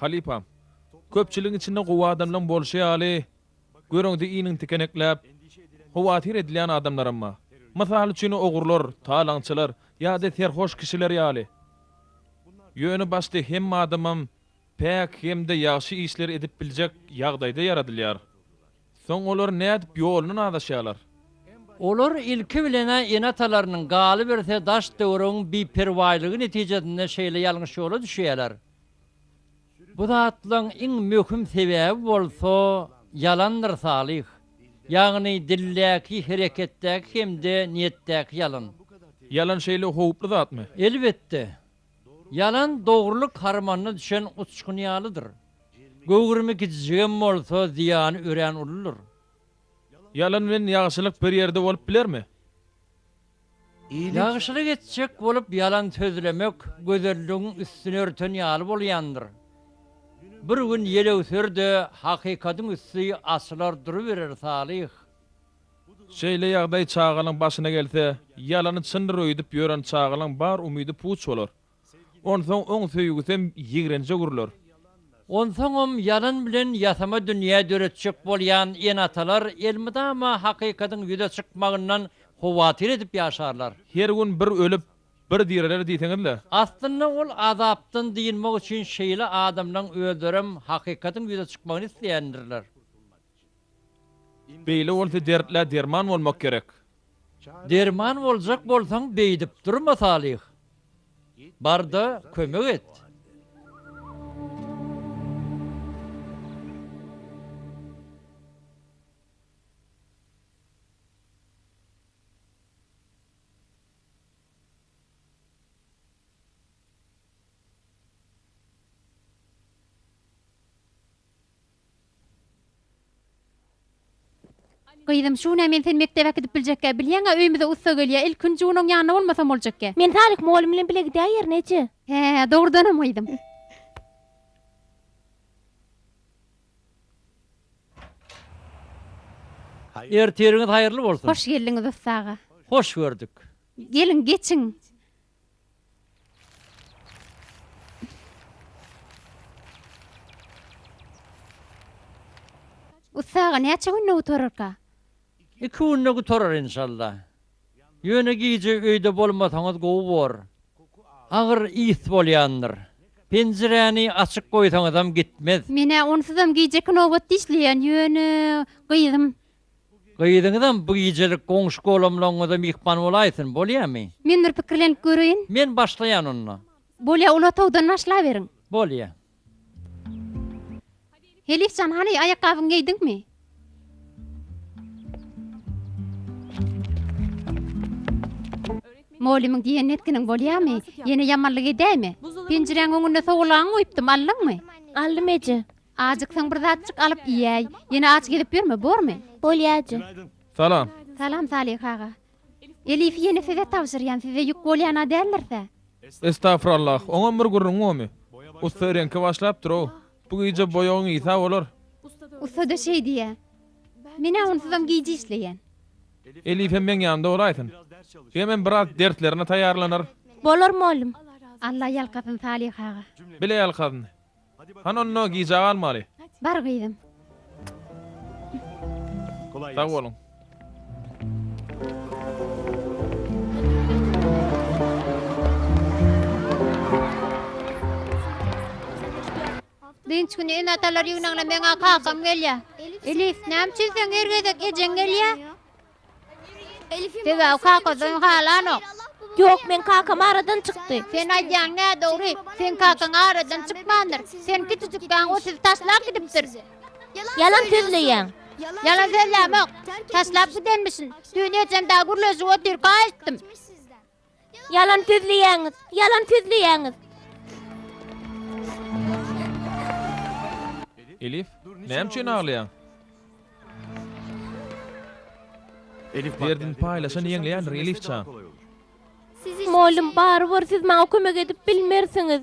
Halypam, köpçüligiň içinde gowy adamlaň bolşy ýaly, görüňde iniň tikenekläp, howatyr edilýän adamlaram bar. Mysal üçin ogrular, talaňçylar ýa-da serhoş kişiler ýaly. Ýöne başda hemme adamam. päk hem-de ýagşy işler edip biljek ýagdaýda ýaradylýar. Soň olar nädip ýolundan azaşýarlar? Olar ilki bilen-ä ene-atalarynyň, galyberse, daş-töweregiň biperwaýlygy netijesinde şeýle ýalňyş ýola düşýärler. Bu zatlaryň iň möhüm sebäbi bolsa ýalandyr, Salyh. Ýagny dildäki, hereketdäki hem-de niýetdäki ýalan. Ýalan şeýle howply zatmy? Elbetde. Ýalan dogrulyk harmanyna düşen uçgun ýalydyr. Göwrümi kijijigem bolsa, zyýany örän uludyr. Ýalan bilen ýagşylyk bir ýerde bolup bilermi? Ýagşylyk etjek bolup ýalan sözlemek gözelligiň üstüni örten ýaly bolýandyr. Bir gün ýelewser-de, hakykatyň üsti açylar duruberer Salyh. Şeýle ýagdaý çagalaň başyna gelse, ýalany çyndyr öýdüp ýören çagalaň bar umydy puç bolar. Onsoň oň söýgüsem ýigrenje öwrüler. Onsoňam ýalan bilen ýasama dünýä döretjek bolýan ene-atalar elmydama hakykatyň ýüze çykmagyndan howatyr edip ýaşarlar. Her gün bir ölüp, bir direler diýseňiz-le. Aslynda ol azapdan dynmak üçin şeýle adamlaň özlerem hakykatyň ýüze çykmagyny isleýändirler. Beýle bolsa dertlä derman bolmak gerek. Derman boljak bolsaň beýdip durma Salyh. Barda kömek et. Gyzym, şuna men seni mekdebe äkidip biljekkä, bilýäň-ä, öýümize ussa gelýär. Ilki gün Junoň ýanynda bolmasam boljakkä. Men Salik mugallym bilen bile gidäýerin, eje. Hä-ä, dogrudanam, gyzym. Ertiriňiz haýyrly bolsun! Hoş geldiňiz ussa aga. Hoş gördük. Geliň, geçiň. Ussaga näçe günde gutararka? Iki günde gutarar inşallah. Ýöne gije öýde bolmasaňyz gowy bor. Agyr ys bolýandyr. Penjiräni açyk goýsaňyzam gitmez. Men-ä onsuzam gijeki nobat dişleýän, ýöne gyzym Gyzyňyzam bu gijelik goňşy-golamlaryňyza myhman bolaýsyn, bolýamy? Men bir pikirlenip göreýin. Men başlaýan onda. Bolýa, uly otagdan başlaberiň. Bolýa. Helif jan, hany, aýakgabyňy geýdiňmi? Mugallymyň diýenini etginiň bolýamy? Ýene ýamanlyk edäýme. Penjiräň öňünde sowulgaňy goýupdym, aldyňmy? Aldym, eje. Ajyksaň bir zatjyk alyp iýäý. Ýene aç gezip ýörme, bormy? Bolýajy. Salam. Salam Salyh aga. Elifi ýene size tabşyrýan, size ýük bolýan-a däldirsä? Estagfurallah, oňam bir gürrüň gomy. Ussa reňke başlapdyr-ow. Bu gije boýagyň isa bolar. Ussa-da şeý diýýä. Men-ä onsuzam gije işleýän. Elifem meň ýanymda bolaýsyn. Jigimem biraz derslerine taýýarlanar. Bolar, mollum. Alla ýalkasyn Salyh aga. Bile ýalkasyn. Hany onda gijä galmaly. Bar gyzym. Sag boluň. Dynç güni ene-atalar ýygnagyna meň-ä kakam gelýär. Elif, näme üçin seň her gezek ejeň gelýär? Sebäbi kaka seni halanok. Ýok, meň kakam aradan çykdy. Sen aýdýaň nädogry. Seň kakaň aradan çykmandyr. Sen kiçijikkäň o sizi taşlap gidipdir. Ýalan sözleýäň. Ýalan sözlämok. Taşlap gidenmişin. Düýn ejem dagy gürleşip otyrka aýtdym. Ýalan sözleýäňiz, ýalan sözleýäňiz. Elif, näme üçin aglaýaň? Elif, derdini paýlaşan ýeňleýändir, Elifjan. Mugallym, barybir siz maňa kömek edip bilmersiňiz.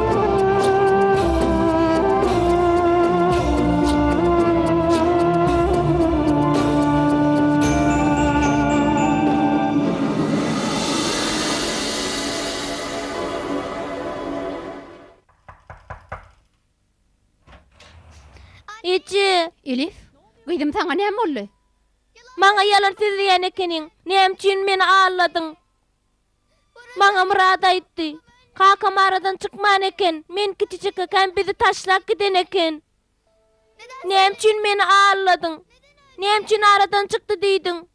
Maňa ýalan söz diýen ekeniň. Näme üçin meni aldadyň? Maňa Myrat aýtdy. Kakam aradan çykman eken, men kiçijekkäm bizi taşlap giden eken. Näme üçin meni alyladyň? Näme üçin aradan çykdy diýdiň?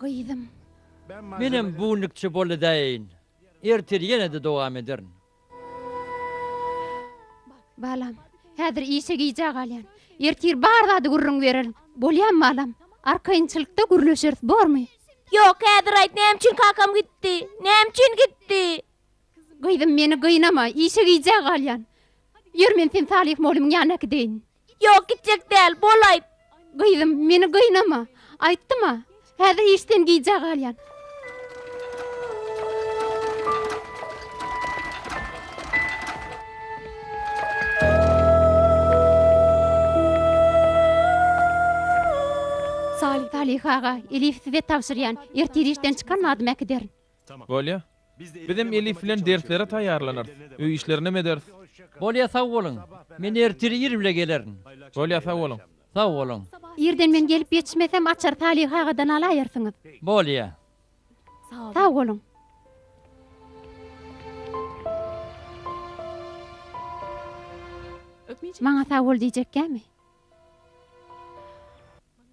Gyzym. Menem bu günlükçe boldy-daýyn. Ertir ýene-de dowam ederin. Balam, häzir işe gijä galýan. Ertir bar zady gürrüň bererin. Bolýamy, balam? Arkaýynçylykda gürleşeris, bormy? Ýok, häzir aýt, näme üçin kakam gitdi? Näme üçin gitdi? Gyzym, meni gynama, işe gijä galýan. Ýör, men seni Salyh mollymyň ýanyna äkideýin. Ýok, gitjek däl, bolaýt. Gyzym, meni gynama. Aýtdym-a, häzir işden gijä galýan. Salyh aga, Elifi size tabşyrýan. Ertir işden çykan badym äkiderin. Bolýa. Bizem Elif bilen derslere taýýarlanarys, öý işlerinem ederis. Bolýa, sag boluň. Men ertir ir bile gelerin. Bolýa, sag boluň. Sag boluň. Irden men gelip ýetişmesem, açary Salyh agadan alaýersiňiz. Bolýa. Sag boluň. Maňa sag bol diýjekkämi?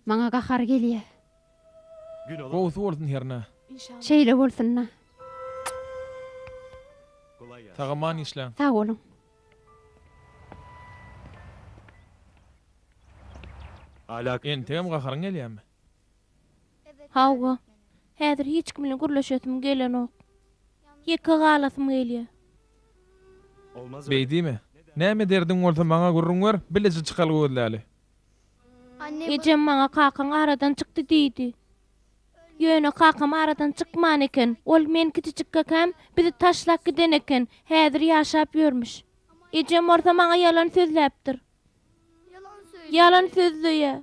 Maňa gahary gelýä. Gowsy bolsun hernä. Şeýle bolsunda. Sagaman işläň. Sag boluň. Entegem gaharyň gelýämi? Hawa. Häzir hiç kim bilen gürleşesim gelenok. Ýeke galasym gelýä. Beýdime. Näme derdiň bolsa maňa gürrüň ber, bileje çykaly gözläli. Ejem maňa kakaň aradan çykdy diýdi. Ýöne kakam aradan çykman eken. Ol men kiçijikkäkäm bizi taşlap giden eken, häzir ýaşap ýörmüş. Ejem bolsa maňa ýalan sözläpdir. Ýalan sözleýä.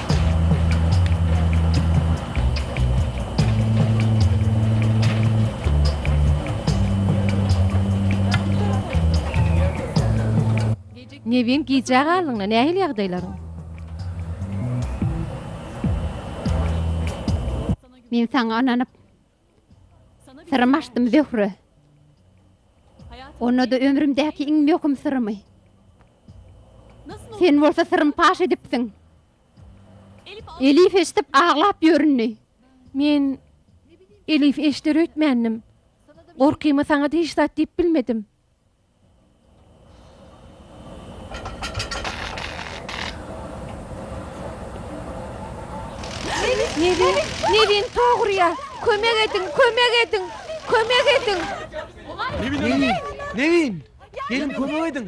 Nebin gijä galdyňda nähili ýagdaýlaryň? Men saňa ynanyp. Syrymy açdym Zöhre. Onda-da ömrümdäki iň möhüm syrymy. Sen bolsa syrym paş edipsiň. Elif eşidip aglap ýöründi. Men Elif eşder öýtmändim. Gorkyma saňa-da hiç zat diýip bilmedim. Nevin tog urýar. Kömek ediň, kömek ediň, kömek ediň! Nevin, Nevin, Nevin! Gelin kömek ediň!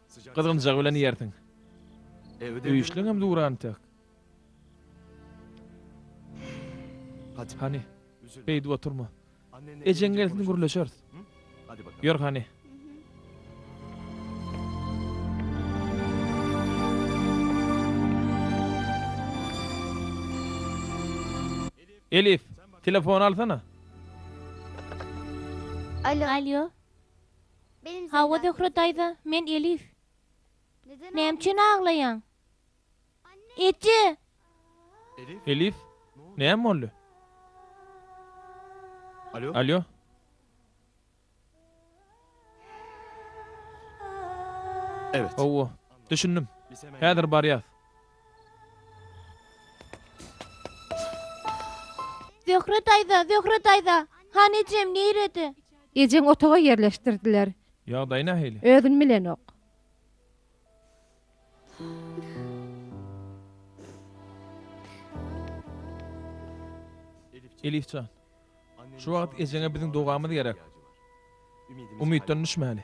Gyzgynjak bilen iýersiň. Öýüşleňem dura entek. Hany, beýdip oturma. Ejeň gelsin gürleşeris. Ýör hany. Elif, telefony alsana. Alo. Alo. Hawa, Zöhre daýza, men Elif. Näme üçin aglaýaň? Eje! Elif, näme boldy? Alýo. Hawa, düşündim. Häzir barýas. Zöhre daýza, Zöhre daýza! Hany ejem, nirede? Ejeň otaga ýerleşdirdiler. Ýagdaýy nähili? Özün bilenok. Elif jan. Şu wagt ejeňe biziň dogamyz gerek. Umytdan düşmäli.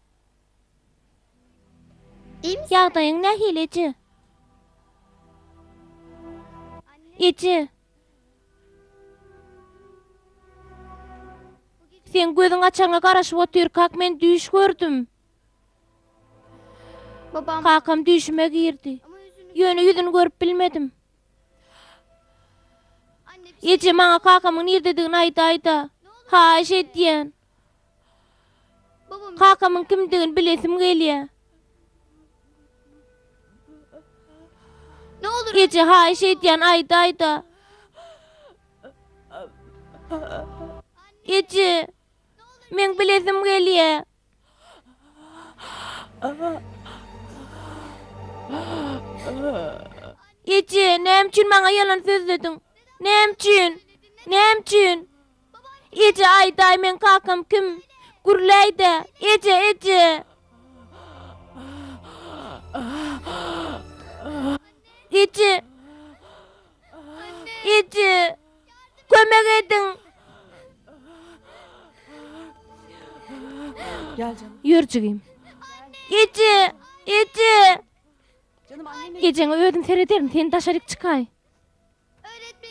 Iň Ýagdaýyň nähili eje? Eje. Seň gözüň açaňa garaşyp otyrkak men düýş gördüm. Kakam düýşüme girdi. Ýöne ýüzüni görüp bilmedim. Eje maňa kakamyň nirdedigini aýdaýda. Haýyş edýän. Kakamyň kimdigini bilesim gelýär. Eje, haýyş edýän, aýdaýda. Eje, meň bilesim gelýär. Eje, näme üçin maňa ýalan sözlediň? Näme üçin? Näme üçin? Eje, aýdaý, meň kakam kim? Gürläý-dä, Eje, eje! Eje! Eje! Kömek ediň! Ýör, jigim. Eje! Eje! Ejeňe özüm serederin, sen daşaryk çykaý.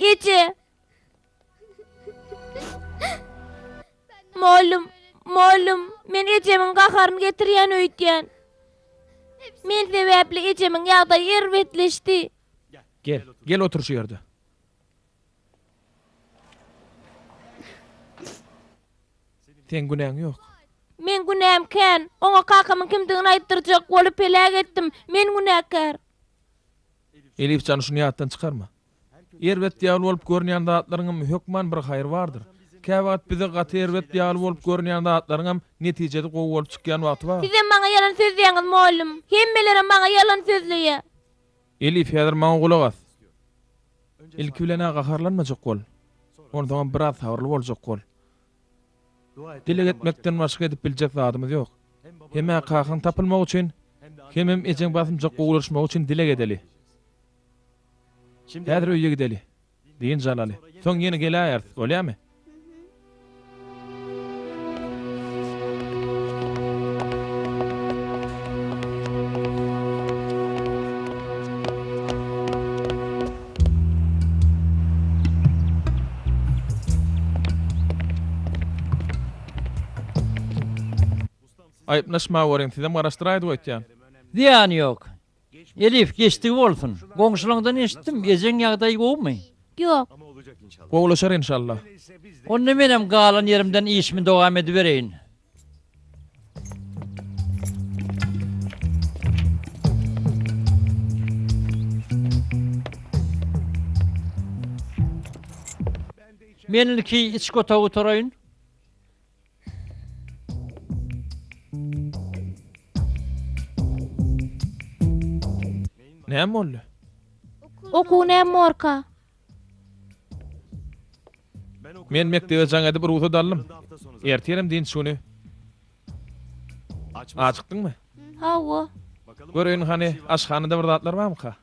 Eje! Mollum, mollum, men ejemiň gaharyny getirýän öýtýän. Men sebäpli ejemiň ýagdaýy erbetleşdi. Gel, gel otur şu ýerde. Seň günäň ýok. Meň günäm kän. Oňa kakamyň kimdigini aýtdyrjak bolup heläk etdim. Men günäkär. Elifjan şuny ýatdan çykarma. Erbet ýaly bolup görünýän zatlaryňam hökman bir haýry bardyr. Käwagt bize gaty erbet ýaly bolup görünýän zatlaryňam netijesi gowy bolup çykýan wagty bar. Sizem maňa ýalan sözleýäňiz mugallym. Hemmelerem maňa ýalan sözleýä. Elif häzir maňa gulak as. Ilki bilenä gaharlanmajak bol. Onsoňam biraz sabyrly boljak bol. Dileg etmekden başga edip biljek zadymyz ýok. Hem-ä kakaň tapylmagy üçin, hemem ejeň basymjak gowulaşmagy üçin dileg edeli. Häzir öýe gideli, dynç alaly. Soň ýene geläýeris, bolýamy? Aýyplaşma görüň, sizem garaşdyraýdyp aýtýan. Zyýany ýok. Elif, geçdigi bolsun. Goňşulaňdan eşitdim, ejeň ýagdaýy gowumy? Ýok. Gowulaşar enşalla. Onda menem galan ýerimden işimi dowam edibereýin. Men ilki içki otagy taraýyn. Näme boldy? Okuw näme morka? Men mekdebe jaň edip rugsat aldym. Ertirem dynç güni. Acykdyňmy? Hawa. Göreýin hany, aşhanada bir zatlar barmyka?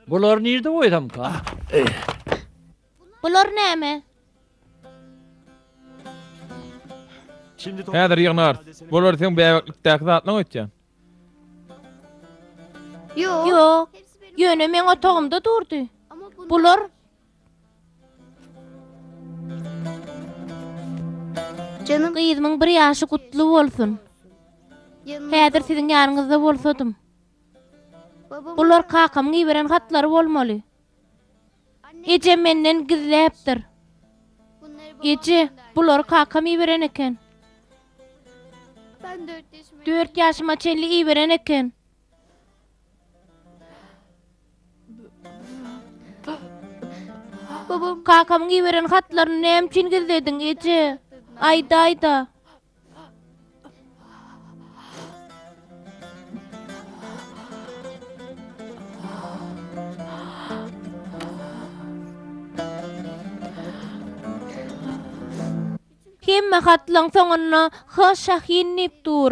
Bular nirde goýsamka? Bular näme? Häzir ýygnarys. Bular seň bäbeklikdäki zatlaň öýtýän. Ýok. Ýöne meň otagymda durdy. Bular Janyň gyzymyň bir ýaşy gutly bolsun. Häzir siziň ýanyňyzda bolsadym. Bular kakamyň iberen hatlary bolmaly. Ejem menden gizläpdir. Eje, bulary kakam iberen eken. Dört ýaşyma çenli iberen eken. Kakamyň iberen hatlaryny näme üçin gizlediň, eje? Aýdaý-da. Hemme hatlaryň soňunda H. Şahin diýip dur.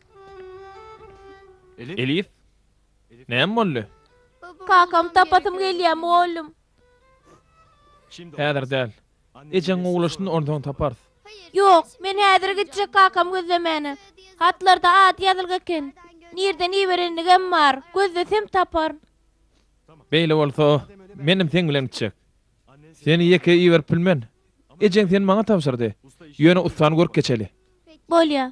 Elif, näme boldy? Kakamy tapasym gelýär, mugallym. Häzir däl. Ejeň gowulaşsyn, onsoň taparys. Ýok, men häzir gitjek kakamy gözlemäne. Hatlarda ady ýazylgy eken. Nirden iberendigem bar. Gözlesem taparyn. Beýle bolsa, menem seň bilen gitjek. Seni ýeke iberip bilmen. Ejeň seni maňa tabşyrdy. Ýöne ussany görüp geçeli. Bolýar.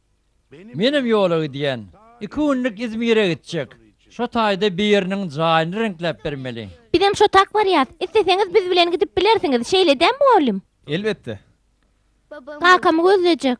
Menem ýola gidýän. Iki günlük Izmire gitjek. Şo taýda biriniň jaýyny reňkläp bermeli. Bizem şo tak barýas. Isleseňiz biz bilen gidip bilersiňiz. Şeýledä mugallym? Elbetde. Kakamy gözlejek.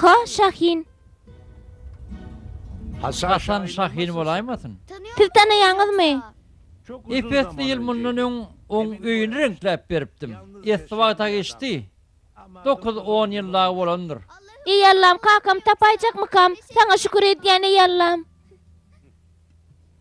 Ha, Şahin. Haçan Şahin bolaýmasyn? Siz tanaýaňyzmy? Ep-esli ýyl mundan öň oň öýüni reňkläp beripdim. Esli wagt-a geçdi. Dokuz-on ýyl dagy bolandyr. Eý Allam, kakamy tapaýjakmykam? Saňa şükür edýän, eý Allam!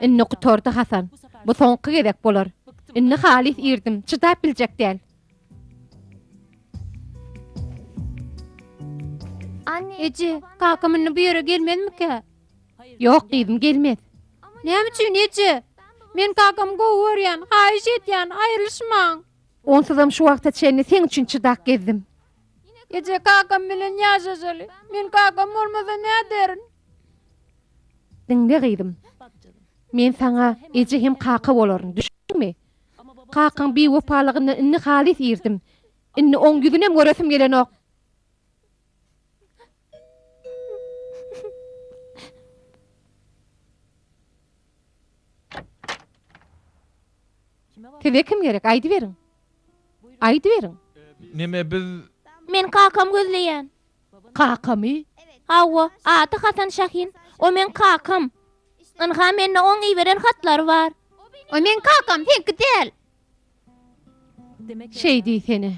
Indi gutardy Hasan. Bu soňky gezek bolar. Indi halys irdim, çydap biljek däl. Eje, kakam indi bu ýere gelmezmikä? Ýok, gyzym, gelmez. Näme üçin, eje? Men kakamy gowy görýän, haýyş edýän, aýrylyşmaň. Onsuzam şu wagta çenli seň üçin çydap gezdim. Eje, kakam bilen ýaşaşaly. Men kakam bolmasa näderin? Diňle, gyzym. Men saňa eje hem kaka bolaryn. Düşündiňmi? Kakaň biwepalygyndan indi halys irdim. Indi oň ýüzünem göresim gelenok. Size kim gerek, aýdyberiň. Aýdyberiň. Neme biz. Men kakam gözleýän. Kakamy? Hawa, ady Hasan Şahin. O meň kakam. Ynha, mende oň iberen hatlary bar. O meň kakam, seňki däl. Şeý diýsene.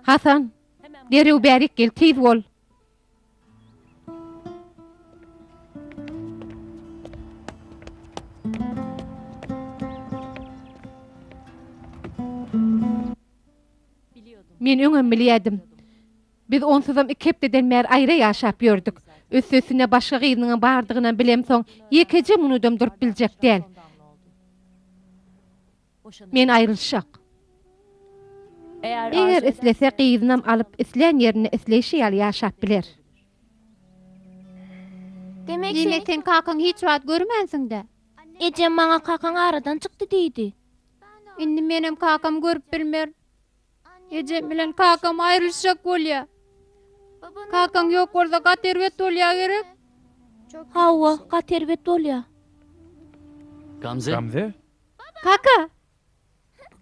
Hasan, derrew bärik gel, tiz bol. Men öňem bilýärdim. Biz onsuzam iki hepdeden bäri aýra ýaşap ýördük. Üsti-üstüne başga gyzyňam bardygynam bilemsoň, ýekeje minudam durup biljek däl. Men aýrylyşjak. Eger islese gyzynam alyp islän ýerinde isleýşi ýaly ýaşap biler. Demek sen kakaňy hiç wagt görmänsiňdä? Ejem maňa kakaň aradan çykdy diýdi. Indi menem kakamy görüp bilmerin. Ejem bilen kakam aýrylyşjak bolýa. Kakaň ýok bolsa gaty erbet bolýa gerek? Hawa, gaty erbet bolýa. Gamze? Kaka!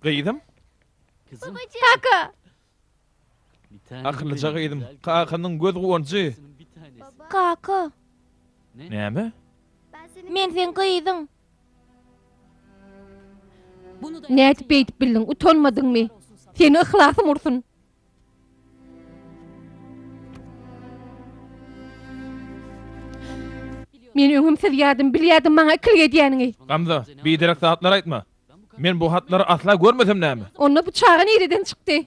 Gyzym! Kaka! Akyllyja gyzym, kakanyň göz guwanjy! Kaka! Näme? Men seň gyzyň! Nädip beýdip bildiň, utanmadyňmy? Seni yhlasym ursun! Men öňem siz ýadym bilýärdim maňa ikilik edýäniňi. Gamza, biderek zatlar aýtma. Men bu hatlary asla görmesem näme? Onda bu çaga nireden çykdy?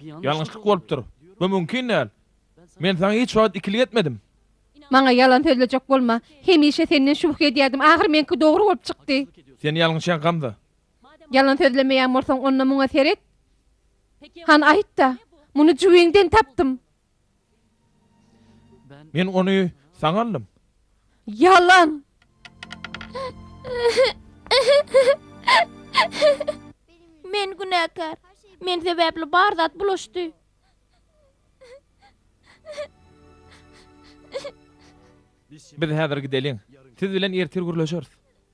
Ýalňyşlyk bolupdyr. Bu mümkin däl. Men saňa hiç wagt ikilik etmedim. Maňa ýalan sözlejek bolma. Hemişe senden şübhe edýärdim, ahyr meňki dogry bolup çykdy. Sen ýalňyşýaň Gamza. Ýalan sözlemeýän bolsaň, onda muňa seret. Han aýt-da, muny jübiňden tapdym. Men ony saňa aldym. Ýalan! Men günäkär. Men sebäpli bar zat bulaşdy. Biz häzir gideliň. Siz bilen ertir gürleşeris.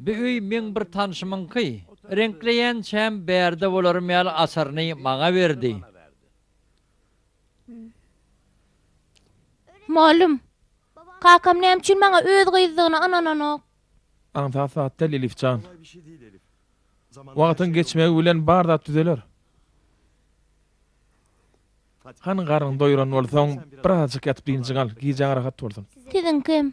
Bu öý meň bir tanşymyňky. Reňkleýänçäm bärde bolarym ýaly açaryny maňa berdi. Mugallym, kakam näme üçin maňa öz gyzdygyna ynananok? Aňsat zat däl, Elif jan. Wagtyň geçmegi bilen bar zat düzeler. Hany garnyňy doýuran bolsaň, birazajyk ýatyp dynjyň al, gijäň rahat bolsun. Siziňkem.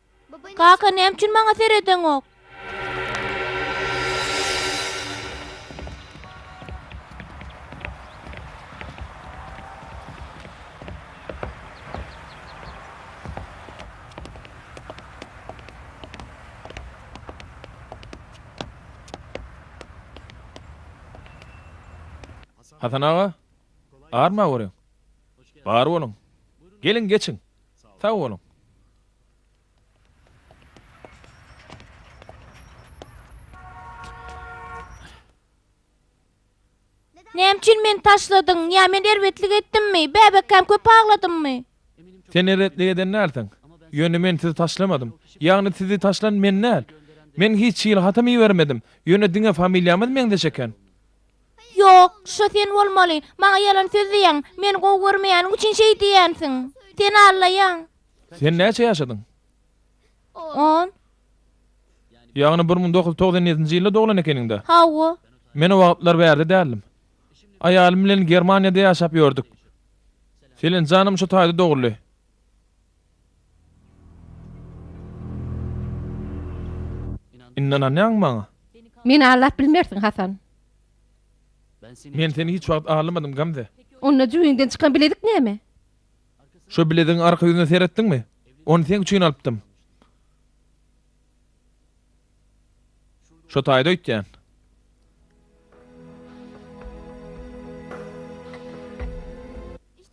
Kaka näme üçin maňa seredeňok. Hasan aga, arma görüň. Bar boluň. Geliň geçiň. Sag boluň. Näme üçin meni taşladyň? Ýa men erbetlik etdimmi? Bäbekäm köp agladymmy? Sen erbetlik eden dälsiň. Ýöne men sizi taşlamadym. Ýagny sizi taşlan men däl. Men hiç hili hatam ibermedim. Ýöne diňe familiýamyz meňzeş eken. Ýok, şo sen bolmaly. Maňa ýalan söz diýýäň. Meni gowy görmeýäniň üçin şeý diýýänsiň. Seni aldaýan. Sen näçe ýaşadyň? On. Ýagny bir müň dokuz ýüz togsan ýedinji ýylda doglan ekeniň-dä? Hawa. Men o wagtlar bärde däldim. Aýalym bilen Germaniýada ýaşap ýördük. Selen janam şu taýda doguldy. Indi ynanýaňmy maňa? Meni aldap bilmersiň, Hasan. Men seni hiç wagt aldamadym, Gamze. Onda jübiňden çykan bilezik näme? Şo bilezigiň arka ýüzüne seretdiňmi? Ony seň üçin alypdym. Şo taýda öýtýän.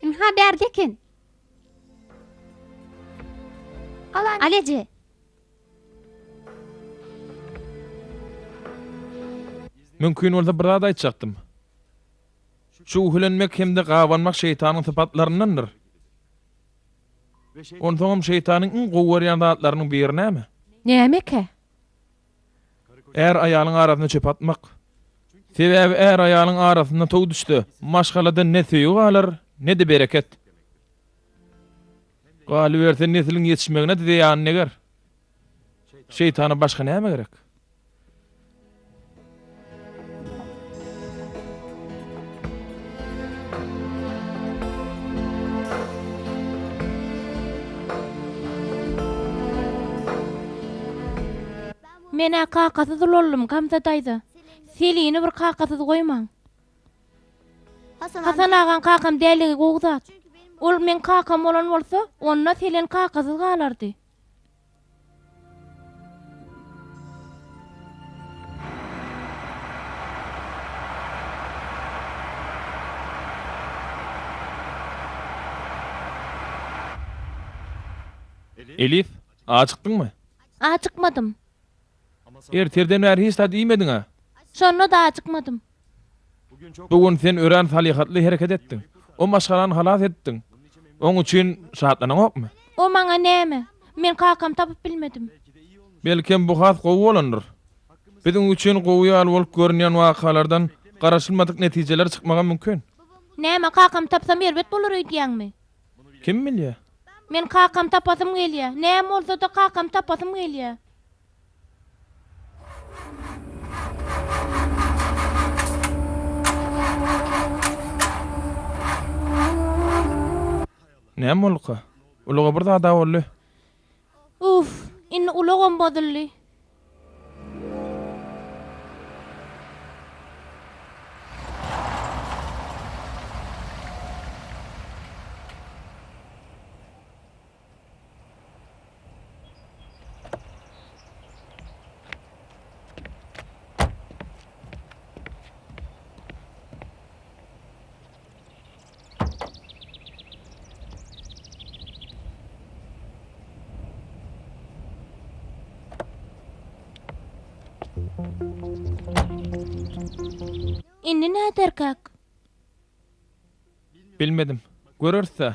Ynha, bärde eken. Al eje. Mümkin bolsa bir zat aýtjakdym. Çüwhülenmek hem-de gabanmak şeýtanyň sypatlaryndandyr. Onsoňam şeýtanyň iň gowy görýän zatlarynyň biri näme? Nämekä? Är-aýalyň arasyna çöp atmak. Sebäbi är-aýalyň arasyna tow düşse, maşgalada ne söýgi galar, ne-de bereket. Galyberse, nesliň ýetişmegine-de zeýany deger. Şeýtana başga näme gerek? Men-ä kakasyz ulaldym, Gamza daýza. Selini bir kakasyz goýmaň. Hasan agaň kakam däligi gowy zat. Ol meň kakam bolan bolsa, onda Selen kakasyz galardy. Elif, ajykdyňmy? Ajykmadym. Ertirden bäri hiç zat iýmediň-ä? Şonda-da ajykmadym. Bu gün sen örän salyhatly hereket etdiň. O maşgalany halas etdiň. Oň üçin şatlanaňokmy? O maňa näme? Men kakamy tapyp bilmedim. Belkem, bu has gowy bolandyr. Biziň üçin gowy ýaly bolup görünýän wakalardan garaşylmadyk netijeler çykmagam mümkin. Näme, kakamy tapsam erbet bolar öýdýäňmi? Kim bilýä? Men kakam tapasym gelýä. Näme bolsa-da kakam tapasym gelýä. Näme bolduka? Uluga bir zad-a boldy. Uff, indi ulagam bozuldy. Indi näderkak? Bilmedim. Göreris-ä.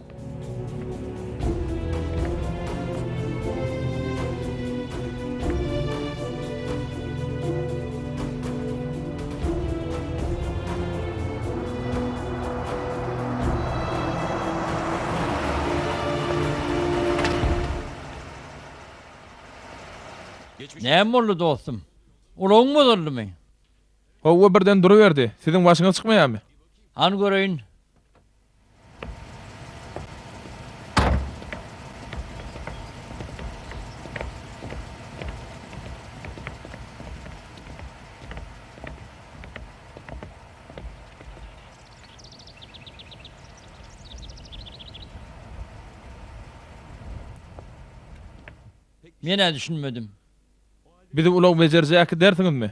Näme boldy dostum? Ulagyň bozuldymy? Howwa birden duruberdi. Siziň başyňyz çykmaýarmy? Hany göreýin. Men-ä düşünmedim. Bizi ulag bejerjek äkidersiňizmi?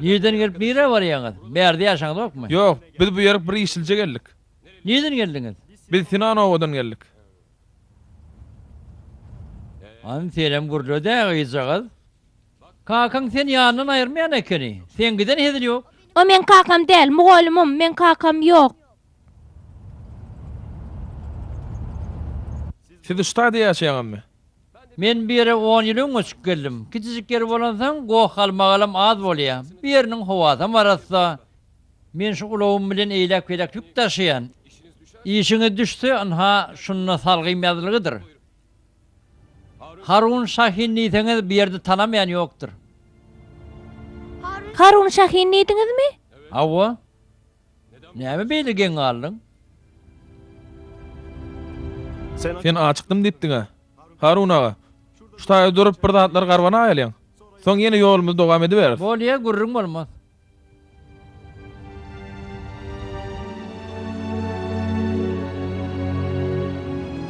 Nireden gelip nirä barýaňyz? Bärde ýaşaňyzokmy? Ýok, biz bu ýerik bir işlije geldik. Nireden geldiňiz? Biz Sinan obadan geldik. Hany senem gürle-dä, gyzjagaz. Kakaň seni ýanyndan aýyrmaýan ekeni. Seň giden hezil ýok. O meň kakam däl, mugallymym, meň kakam ýok. Siz Uştaýda ýaşaýaňyzmy? Men bu ýere on ýyl öň göçüp geldim. Kiçijik ýer bolansoň, goh-galmagalam az bolýar. Bu ýeriniň howasam arassa. Men şu ulagym bilen eýläk-beýläk ýük daşaýan. Işiňiz düşse, ynha, şunda salgym ýazylgydyr. Harun Şahin diýseňiz, bu ýerde tanamaýan ýokdur. Harun Şahin diýdiňizmi? Hawa. Näme beýle geň galdyň? Sen açykdym diýipdiň-ä. Harun aga, şu taýda durup bir zatlar garbanaýalyň. Soň ýene ýolumyzy dowam ediberis. Bolýa, gürrüň bolmaz.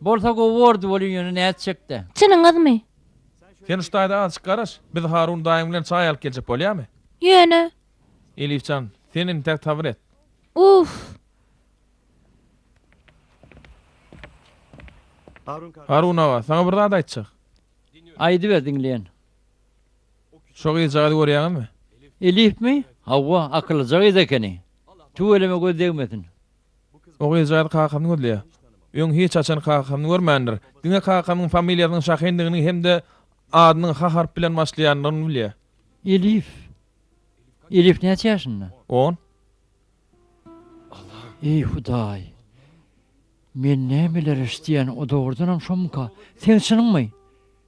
Bolsa gowy bordy bolyn ýöne nätjekdä. Çynyňyzmy? Sen şu taýda azjyk garaş. Biz Harun daýyň bilen çaý alyp geljek bolýamy? Ýöne. Elif jan, sen entäk sabyr et. Uff. Harun aga, saňa bir zat aýtjak. Aýdyber diňleýän. Şo gyzjagazy görýäňizmi? Elifmi? Hawa, akyllyja gyz ekeni. Tüweleme göz degmesin. Oguzjaz kakamyny gözleýär. Öň hiç haçan kakamyny görmändir. Diňe kakamyň familiýasynyň Şahindigini hem-de adynyň H harpy bilen başlaýandygyny bilýär. Elif. Elif näçe ýaşynda? On. Eý, Hudaý! Men nämeler eşidýän, o dogrudanam şomyka? Seň çynyňmy?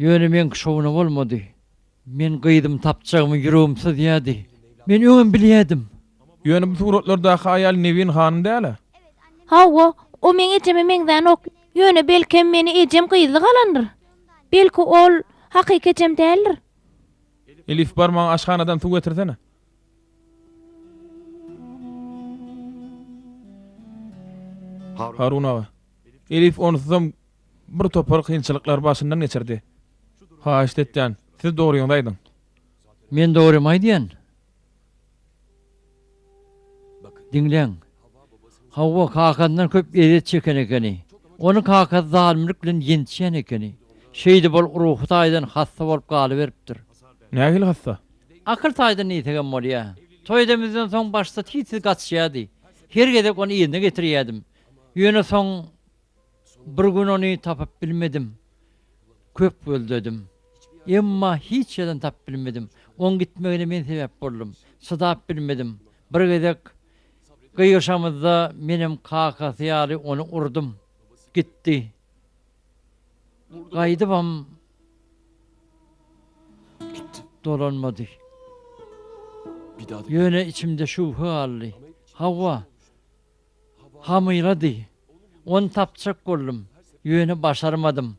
Ýöne meňki şowuna bolmady. Men gyzymy tapjagymy ýüregim syzýardy. Men öňem bilýärdim. Ýöne bu suratlardaky aýal Nebin hanym däl-ä? Hawa, o meň ejeme meňzänok. Ýöne belkem meni ejem gyzly galandyr. Belki ol hakyky ejem däldir. Elif, bar maňa aşhanadan suw getirsene. Harun aga. Elif onsuzam Bir topar kynçylyklary başyndan geçirdi. Haýyşt etýän, siz dogryňyzy aýdyň. Men dogrymy aýdýan. Diňläň. Hawa, kakasyndan köp ezýet çeken ekeni. Ony kakasy zalymlyk bilen ýençýän ekeni. Şeýdip ol ruhy taýdan hassa bolup galyberipdir. Nähili hassa? Akyl taýdan diýsegem bolýa. Toý edemizden soň başda tiztiz gaçýardy. Her gezek ony yzyna getirýärdim. Ýöne soň Bir gün ony tapyp bilmedim. Köp gözledim. Emma hiç ýerden tapyp bilmedim. Oň gitmegine men sebäp boldum. Çydap bilmedim. Bir gezek gygyryşamyzda menem kakasy ýaly ony urdum. Gitdi. Gaýdybam dolanmady. Ýöne içimde şübhe galdy. Hawa, Hamyrady. Ony tapjak boldum, ýöne başarmadym.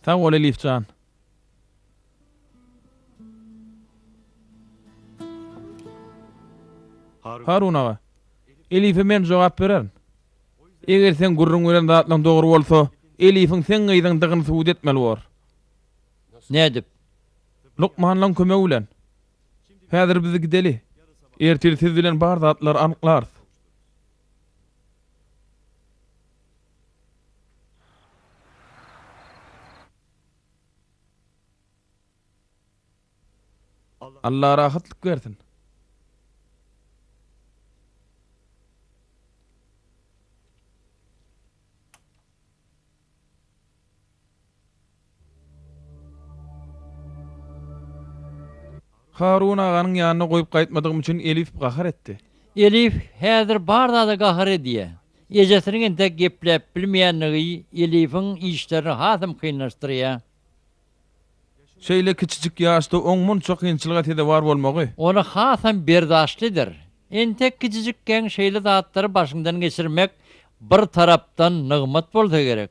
Sag bol Elif jan. Harun aga. Elife men jogap bererin. Eger seň gürrüň beren zatlaň dogry bolsa, Elifiň seň gyzyň dygyny subut etmeli bor. Nädip? Lukmanlaň kömegi bilen. Häzir biz gideli. Ertir siz bilen bar zatlary anyklarys. Alla rahatlyk bersin. Harun aganyň ýanyna goýup gaýtmadygym üçin Elif gahar etdi. Elif häzir bar zada gahar edýä. Ejesiniň entek gepläp bilmeýändigi Elifiň işlerini hasam kynlaşdyrýa. Şeýle kiçijik ýaşda oň munça kynçylyga sezewar bolmagy. Ony hasam berdaşlydyr. Entek kiçijikkäň şeýle zatlary başyňdan geçirmek bir tarapdan nygmat bolsa gerek.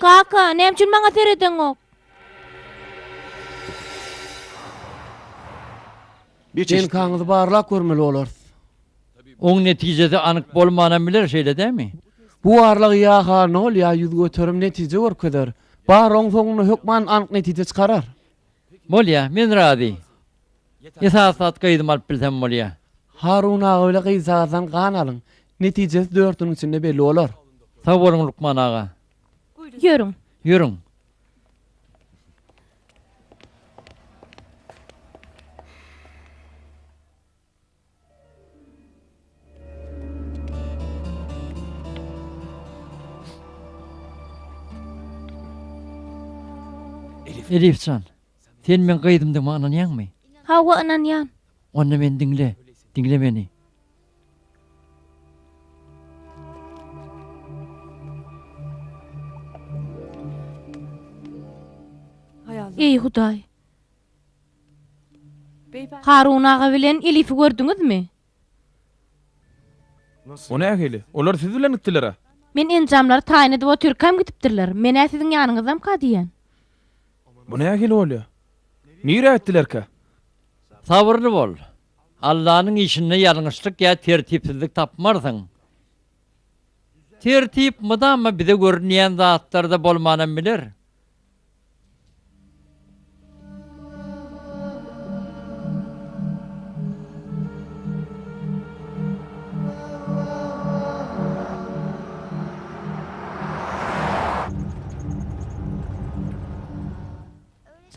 Kaka, näme üçin maňa seredeňok? DNK-ňyzy barlap görmeli bolarys. Oň netijesi anyk bolmanam biler, şeýle dälmi? Bu barlag ýa-ha nol, ýa ýüz göterim netije görkezer. Bar, oň soňunda hökman anyk netije çykarar. Bolýar, men razy. Esasy zat gyzymy alyp bilsem bolýa. Harun aga bile gyzjagazdan gan alyň. Netijesi dörtüniň içinde belli bolar. Sag boluň Lukman aga. Ýörüň. Ýörüň. Elif jan, sen meň gyzymdygyma ynanýaňmy? Hawa, ynanýan. Onda meni diňle, diňle meni. Eý, Hudaý! Harun aga bilen Elifi gördüňizmi? O nähili? Olar siz bilen gitdiler-ä? Men enjamlary taýyn edip otyrkam gidipdirler. Men-ä siziň ýanyňyzdamyka diýýän. Bu nähili bolýar? Nirä gitdilerkä? Sabyrly bol. Allanyň işinde ýalňyşlyk ýa tertipsizlik tapmarsyň. Tertip mydama bize görünýän zatlarda bolmanam biler.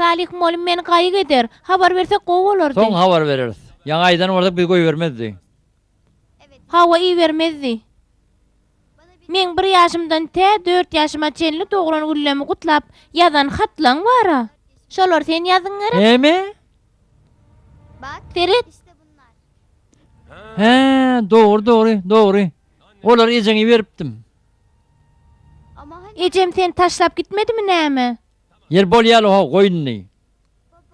Salyh molum men gaýyk eder. Habar bersek gowy bolardy. Soň habar bereris. Ýaňy aýdan bolsak biz goýbermezdi. Hawa ibermezdi. Meň bir ýaşymdan tä dört ýaşyma çenli doglan güllemi gutlap ýazan hatlaň bar-a. Şolary sen ýazdyň gerek? Näme? Seret! Hä, dogry, dogry, dogry. Olary ejeňe beripdim. Ejem seni taşlap gitmedimi näme? Ýeri bolýaly-haw, goýun-y.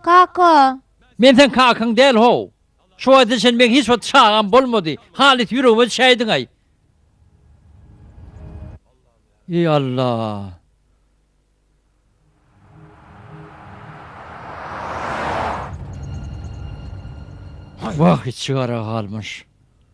Kaka! Men seň kakaň däl how! Şu wagta çen meň hiç wagt çagam bolmady, halys ýüregime düşäýdiňaý! Eý Alla! Wah içigara galmyş.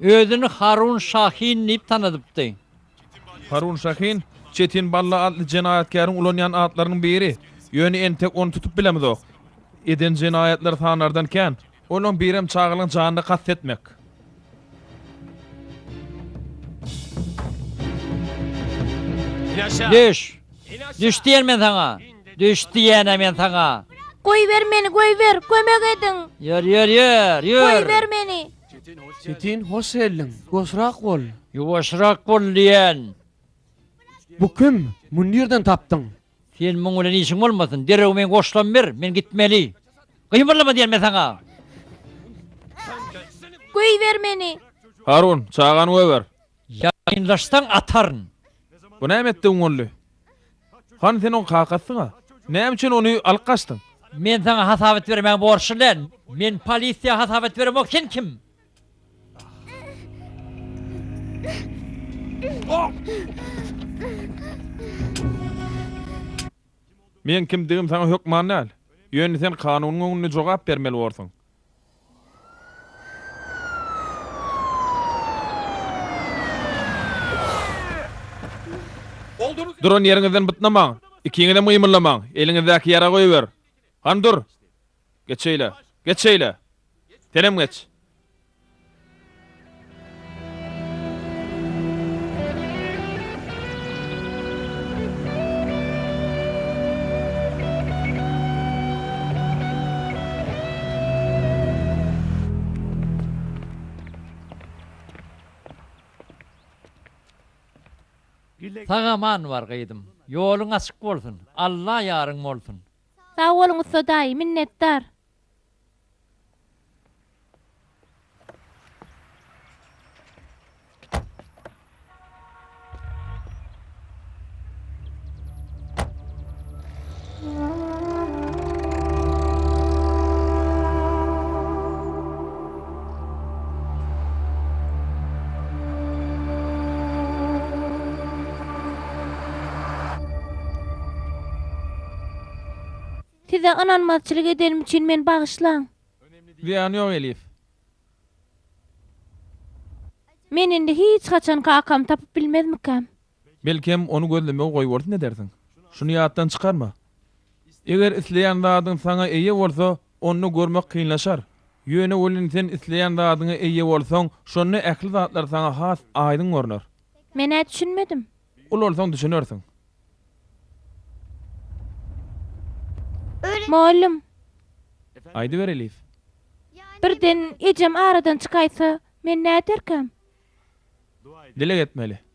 Özüni Harun Şahin diýip tanadypdy. Harun Şahin, Çetin Balla atly jenaýatkäriň ulanýan atlarynyň biri. Ýöne entek ony tutup bilemizok. Eden jenaýatlary sanardan kän. Olaryň birem çagalyň janyna kast etmek. Leş, Düş diýen men saňa. Düş diýenä men saňa. Goýber meni, goýber, kömek ediň. Ýör, ýör, ýör, ýör. Goýber meni. Çetin, hoş geldiň. Ýuwaşrak bol. Ýuwaşrak bol diýen. Bu kim? Muny nirden tapdyň? Sen muň bilen işiň bolmasyn. Derrew meň goşlamy ber, men gitmeli. Gymyrlama diýen men saňa. Goýber meni. Harun, çagany goýber. Ýaýynlaşsaň ataryn. Bu näme etdigiň boldy? Hany sen oň kakasyň-a? Näme üçin ony alyp gaçdyň? Men saňa hasap et bermäge borçly däl. Men polisiýa hasap et beremok sen kim? Meň kimdigim saňa hökman däl. Ýöne sen kanunyň öňünde jogap bermeli borsuň. Duran ýeriňizden bytnamaň! Ikiňizem gymyldamaň! Eliňizdäki ýaragy goýber! Hany dur! Geç şeýle! Geç şeýle! Senem geç! Sag-aman bar gyzym. Ýoluň açyk bolsun. Alla ýaryň bolsun. Sag boluň ussa daýy, minnetdar. Size ynanmazçylyk edenim üçin meni bagyşlaň. Zyýany ýok Elif. Men indi hiç haçan kakamy tapyp bilmezmikäm? Belkem, ony gözlemegi goýbolsun edersiň. Şuny ýatdan çykarma. Eger isleýän zadyň saňa eýe bolsa, onda görmek kynlaşar. Ýöne welin sen isleýän zadyňa eýe bolsaň, şonda ähli zatlar saňa has aýdyň görner. Men-ä düşünmedim. Ulalsaň düşünersiň. Mugallym. Aýdyber, Elif. Birden ejem aradan çykaýsa, men näderkäm? Dileg etmeli.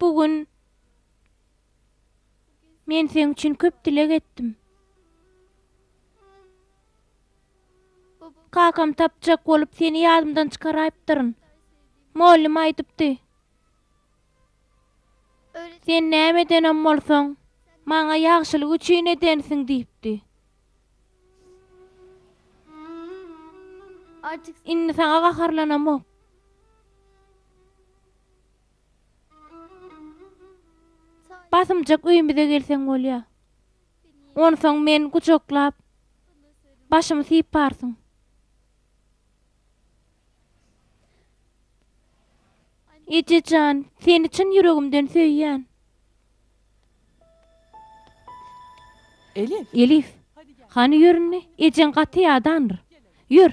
Bu gün Men seň üçin köp dileg etdim. Kakam tapjak bolup seni ýadymdan çykaraýypdyryn. Mollym aýdypdy. Sen näme edenem bolsaň, maňa ýagşylyk üçin edensiň diýipdi. Indi saňa gaharlanamok. Basymjak öýümize gelseň bolýa. Onsoň meni gujaklap, başymy syparsyň. Eje jan, seni çyn ýüregimden söýýän. Elif. Elif. Hany ýöründe, ejeň gaty ýadandyr. Ýör.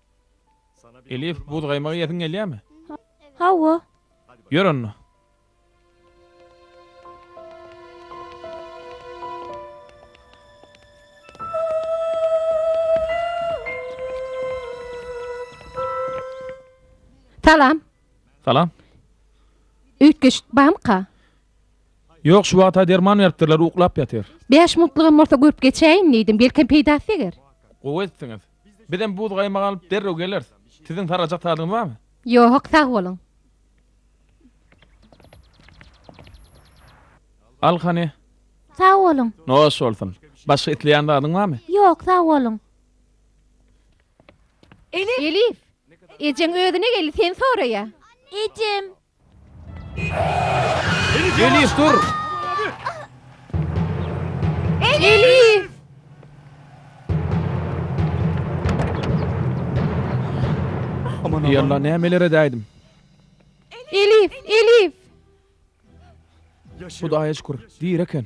Elif, buz gaýmagy iýesiň gelýärmi? Hawa. Ýör onda. Salam. Salam. Üýtgeşik barmyka? Ýok, şu wagta derman beripdirler, uklap ýatyr. Bäş minutlygam bolsa görüp geçäýin diýdim, belkem peýdasy deger. Gowy etdiňiz. Bizem buz-gaýmak alyp derrew geleris. Siziň sargajak zadyňyz barmy? Ýo-ok, sag boluň. Al hany. Sag boluň. Noş bolsun. Başga isleýän zadyň barmy? Ýok, sag boluň. Elif! Elif! Ejeň özüne geldi, seni soraýar. Ejem! Elif dur! Elif! Aman Ey Allah nämeler edäýdim. Elif! Elif! Hudaýa şükür, diri eken.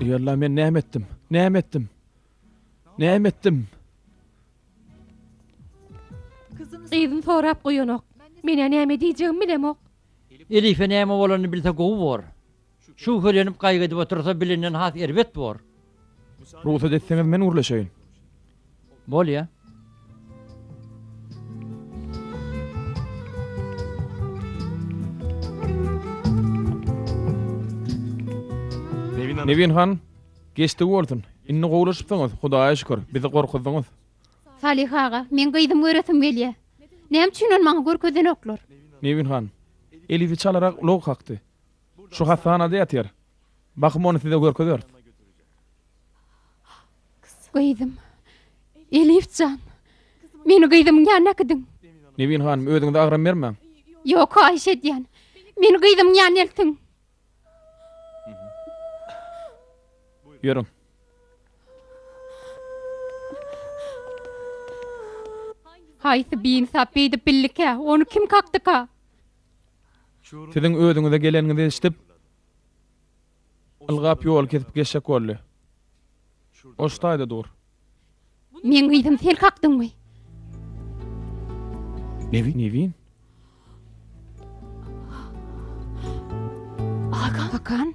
Ey Allah men näme etdim? Näme etdim? Näme etdim? Gyzym sorap goýanok. Menä näme diýjegimi bilemok. Elife näme bolanyny bilse gowy bor. Şübhelenip gaýgy edip otursa bilinden has erbet bor. Rugsat etseňiz men gürleşeýin. Bolýa. Nebin han, Geçdigi bolsun. Indi gowulaşypsyňyz, Hudaýa şükür. Bizi gorkuzdyňyz. Salyh aga, meň gyzymy göresim gelýä. Näme üçin ony maňa görkezenoklar? Nebin han, Elizi çalarak ulag kakdy. Şu hassanada ýatyr. Bahym ony size görkezeris. Gyzym. Elif jan. Meni gyzymyň ýanyna äkidiň. Nebin hanym, özüňize agram bermäň. Ýok, haýyş edýän. Meni gyzymyň ýanyna eltiň. Ýörüň. Haýsy biinsap beýdip bildikä? Ony kim kakdyka? Siziň özüňize geleniňizi eşidip, ylgap ýoly kesip geçjek boldy. Ol şu taýda dur. Meň gyzym, sen kakdyňmy? Nevin? Nevin? Hakan? Hakan?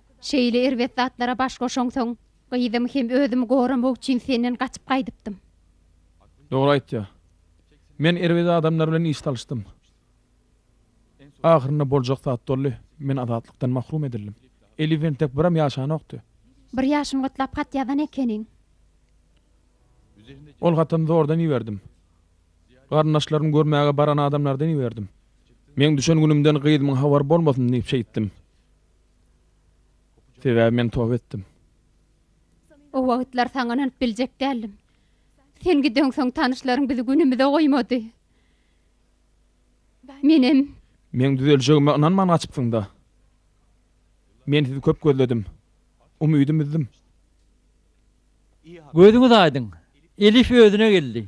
Şeýle erbet zatlara baş goşaňsoň, gyzymy hem özümi goramak üçin senden gaçyp gaýdypdym. Dogry aýtýa. Men erbet adamlar bilen iş salyşdym. Ahyrynda boljak zat boldy, men azatlykdan mahrum edildim. Elif entek biram ýaşanokdy. Bir ýaşyny gutlap hat ýazan ekeniň. Ol hatyny zordan iberdim. Garyndaşlarymy görmäge baran adamlardan iberdim. Meň düşen günümden gyzymyň habary bolmasyn diýip şeýtdim. Sebäbi men toba etdim. O wagtlar saňa ynanyp biljek däldim. Sen gideňsoň tanyşlaryň bizi günümize goýmady. Menem. Meň düzeljegime ynanman gaçypsyň-da. Men sizi köp gözledim. Umydym üzdim. Gözüňiz aýdyň. Elif özüne geldi.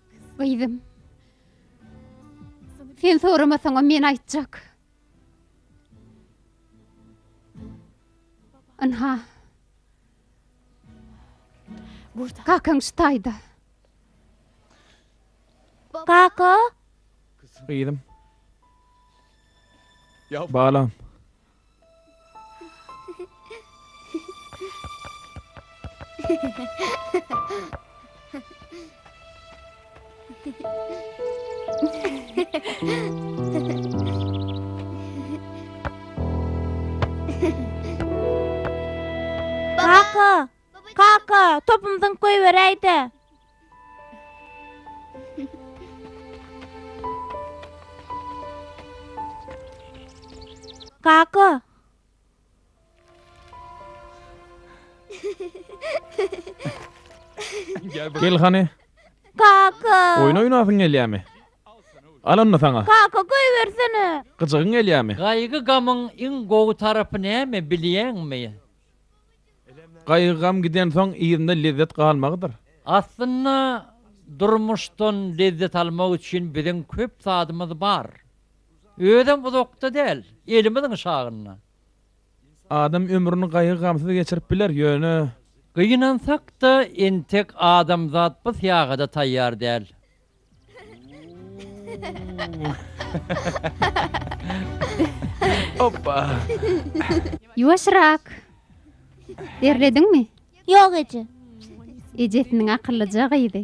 Gyzym. Sen soramasaňam men aýtjak. Ynha. Burda. Kakaň şu taýda. Kaka. Gyzym. Balam. Kaka, Kaka, topum zyňk goýberäýdä. Kaka. Gel hany. Kaka. Oýun oýnasyň gelýärmi? Al onda saňa. Kaka goýbersene. Gyjygyň gelýärmi? Gaýgy-gamyň iň gowy tarapy näme bilýäňmi? Gaýgy-gam gidensoň, yzynda lezzet galmagydyr. Aslynda, durmuşdan lezzet almak üçin biziň köp zadymyz bar. Özem uzakda däl, elimiziň şagynda. Adam ömrüni gaýgy-gamsyz geçirip biler, ýöne. Gynansak-da, entek adamzat bu syýagada taýýar däl. Hoppa. Ýuwaşrak. Derlediňmi? Ýok eje. Ejesiniň akyllyja gyzy.